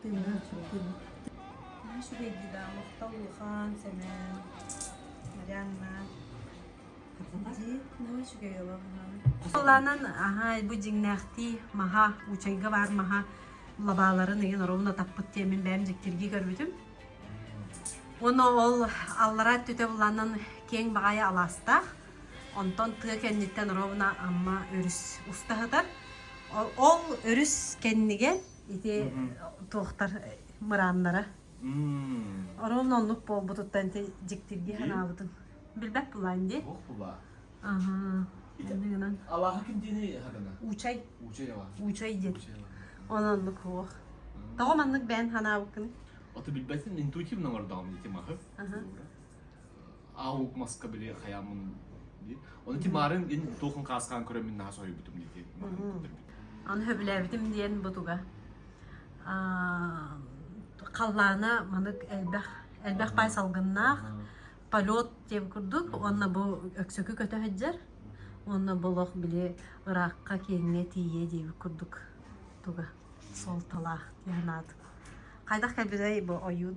тыынаран сүҥкүн наһаа үчүгэйдии да махтал улахан Сэмэн Марианна дии наһаа үчүгэй олоҕунан Соланан аһай бу дьиҥнээхтии маһа учайга баар маһа лабааларын ыйын оруолуна таппыт тиэмин бэйэм дьиктирги көрбүтүм Оны ол аллара түтө буланын кең баҕайы алаастаах онтон тыа кэнниттэн оруобуна амма өрүс уста сытар ол өрүс кэннигэр ити туохтар мырааннара Орон оннук буолбутуттан ити дьиктирги санаабытым. Билбэт булаан ди? Ох булаа. Аха. Ныынан. Алааха ким диэни хагана? Учай. Учай алааха. Учай диэн. Ононнук хуох. Тоҕо маннык бээн санаабыккыны? Ото билбэтин интуитивно мордоҕум дити махы. Аха. аа ук маска били хаямун ди оны ти марын ин тухын каскан көрөмүн наа союбутум ди марын көтөрбүт аны хөбүлээбитим диэн бу туга халлаана манык элбэх элбэх пай салгыннаах полет тем курдук онно бу өксөкү көтөһөджер онно болох били ыракка кеңге тие диэбит курдук туга суолталаах тиһанаат хайдах кэлбитэй бу ойуун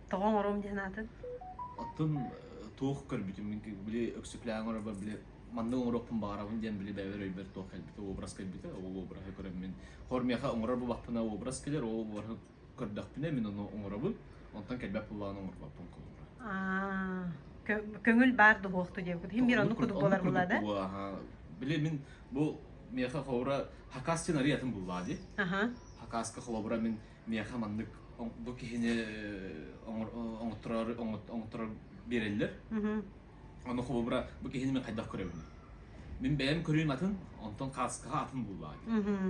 тоҕо оҥоруом диэн аатын оттон туох көрбүтүм били өксүклээҥ орабар били маннык оҥоруохпун баҕарабын диэн били бэйэбэр өйбөр туох кэлбитэ уобрас кэлбитэ ол уобраһы көрөммүн хор миэхэ оҥорор бу баппына уобрас кэлэр ол уобраһы көрдөхпүнэ мин ону оҥоробун онтон кэлбэт буоллаҕын оҥорбоппун холобура көҥүл баар дуһуохту диэбиккит иһин биир оннук курдук буолар була да били мин бу миэхэ холобура хакас диэн арый атын буллаа ди хакаска холобура мин миэхэ маннык бу киһини оҥотторор оҥотторор биэрэллэр ону холобура бу киһини мен хайдах көрөбүн мин бэйэм көрүүм атын онтон кааскаҕа атын буоллаа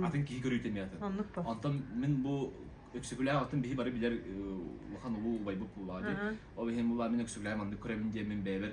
атын киһи көрүүтэ эмиэ атын онтон мин бу өксөкүлээх атын биһи бары билэр улахан улуу убайбыт буоллаа ди ол иһин булаа мин өксөкүлээх маннык көрөмүн диэн мин бэйэбэр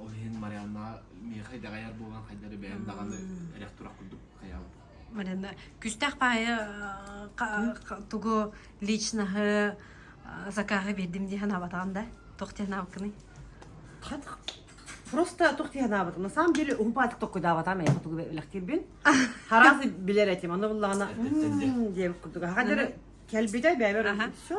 Ол иһин Марианнаҕа миэхэ идэҕэйэр буолан хайдары бэйэм даҕаны эрэх-турах курдук хайаабыт. Марина, күстээх паайы тугу личноһы закаһы бердим дии санаабатаҕын да туох диэн аабыккыный просто туох диэн аабыт на самом деле уһупаатык токкуйдаабатаам эйэхэ тугу үлэхтиирбин хараах билэр этим аны буллаҕына диэн курдук хаха кэлбитэ бэйэбэр все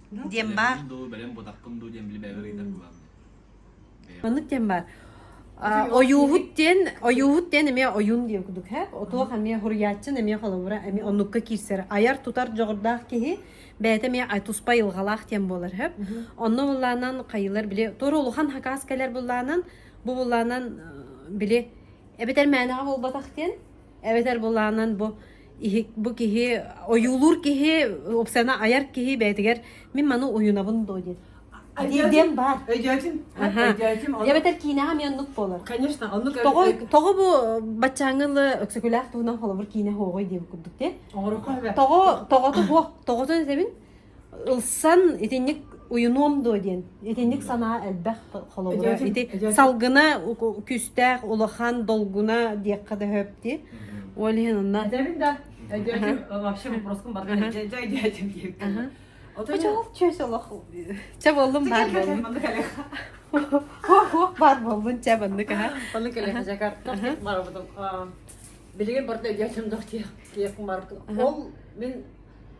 диэн баар маннык диэн баар ойууһут диэн ойууһут диэн эмиэ ойуун диэн кудук һэ отуох эмиэ хуруйааччын эмиэ холобура эмиэ оннукка киирсэр айар тутар дьоҕурдаах киһи бэйэтэ эмиэ туспа айылҕалаах диэн буолар һэ онно буллаанан хайылар били туора улахан хакаас кэлэр буллаанан бу буллаанан били эбэтэр мээнэҕэ буолбатах диэн эбэтэр буллаанан бу бу киһи ойуулуур киһи опсана айар киһи бэйэтигэр мин маны уйунабын доо диэн диэн баар өйдөөтүм өйдөөтүм эбэтэр киинэҕэ мен оннук буолар конечно оннук тоҕо тоҕо бу баччааҥылы өксөкүлээх туһунан холобур киинэ хоҕой диэн курдук те тоҕо тоҕото буох тоҕото этэбин ылсан итинник уйунуом дуо диэн итинник санаа элбэх холобура ити салгына күүстээх улахан долгуна диэххэ да сөптүү ол иһин онно вообще вопроскым бар чэ боллум бар боллун хох бар боллун чэ маннык аха боллун көлөһө жакар барабытым билигин барта өйдөөтүм дох диэх ол мен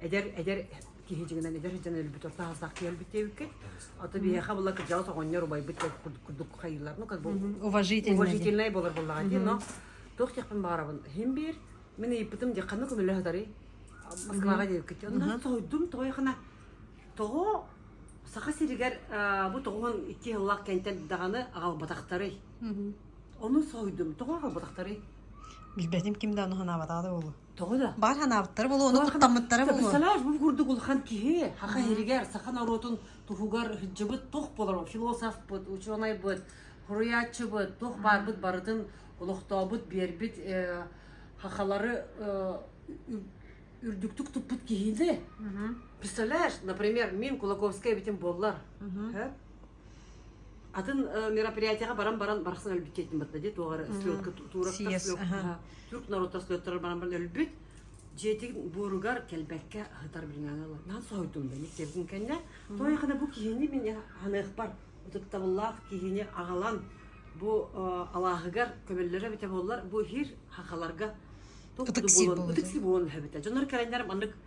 эдэр эдэр киһи дьиҥинэн эдэр сыдьан өлбүт орто хаастаах киһи өлбүт диэбиккит ото биһиэхэ була кырдьаҕас оҕонньор убайбыт курдук хайыылар ну как бы уважительнай болор буоллаҕа дии но туох диэхпин баҕарабын хим биир мин ыйыппытым диэ ханна көмөлө сатарый москваҕа диэбиккит онно сойдум тоҕой хана тоҕо саха сиригэр бу тоҕуһун икки сыллах кэнтэн даҕаны аҕалбатахтарый ону сойдум тоҕо аҕалбатахтарый билбэтим ким да ону санаабатаҕа да буолу Тоҕо да? Баар санаабыттара болуону куттаммыттара болуо. Представляешь, бу курдук улахан киһи хаха хиригэр саха норуотун туһугар хыддьыбыт тух болор философпыт, учуонайбыт, хуруйааччыбыт, тух баарбыт барытын олохтообут биэрбит хахалары үрдүктүк туппут киһини. Представляешь, например, мен Кулаковская битим боллар. атын мероприятияға баран баран барахсан өлбүт диэтим батта дии туох эрэ стрелка туурактар түрк норуттар слеттарар баран баран өлбүт дьиэтин буоругар кэлбэккэ ыһытар билиҥҥэ ылар наан соһуйдум бэник тебгин кэннэ тоойхана бу киһини мин ханыахпар ытыктабыллаах киһини аҕалан бу алааһыгар көбөллөрө эбитэ буоллар бу иһир хахаларга ытыкси буолан ытыкси буолан өһөбүтэ дьонор кэрэннэр маннык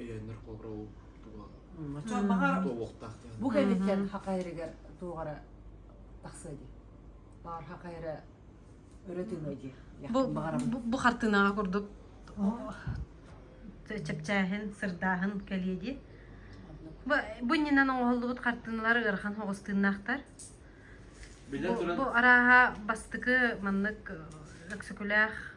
өйөөннөр холобура ол туга туолуохтаах диэн бу кэнниттэн хахайрыгар туоҕара тахсыа дии баар хахайра өрө тыына дии бу хартыынаҕа курдук чэпчээһин сырдааһын кэлиэ дии бу иннинэн оҥоһуллубут хартыыналар ыарахан оҕустыыннаахтар бу арааһа бастыкы маннык өксөкүлээх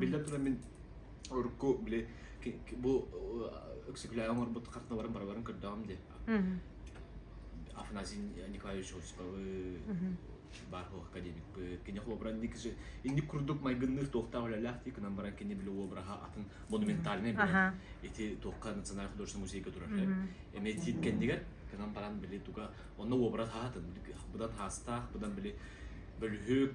Биллэ туран мин урукку били бу Өксөкүлээҕи оҥорбут карталарын барыларын көрдөҕүм диye. Афанасий Николаевич Осиповы баар һуох академикпыт кини холобуран инник инник курдук майгынныыр туохтаах үлэлээх дии кынан баран кини били уобраха атын монументальный бөлөх ити туохха национальный художественный музейга турар эмиэ тиит кэннигэр кынан баран били туга онно уобрат хаатын быдан хаастаах быдан били бөлүһүк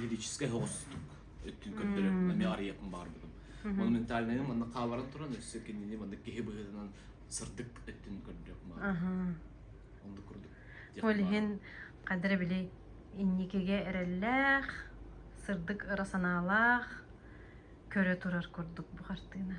лирическай соҕустук өттүн көрдөрөр эмиэ арыйыахпын баҕарбытым Оны ментальнайым манна хааларан туран өссө кинини манна киһи быһыытынан сырдык өттүн көрдөрүөхпүн баҕарбытым онду курдук ол иһин қадыр били инникиге эрэллээх сырдык ыра санаалаах көрө турар курдук бу хартыына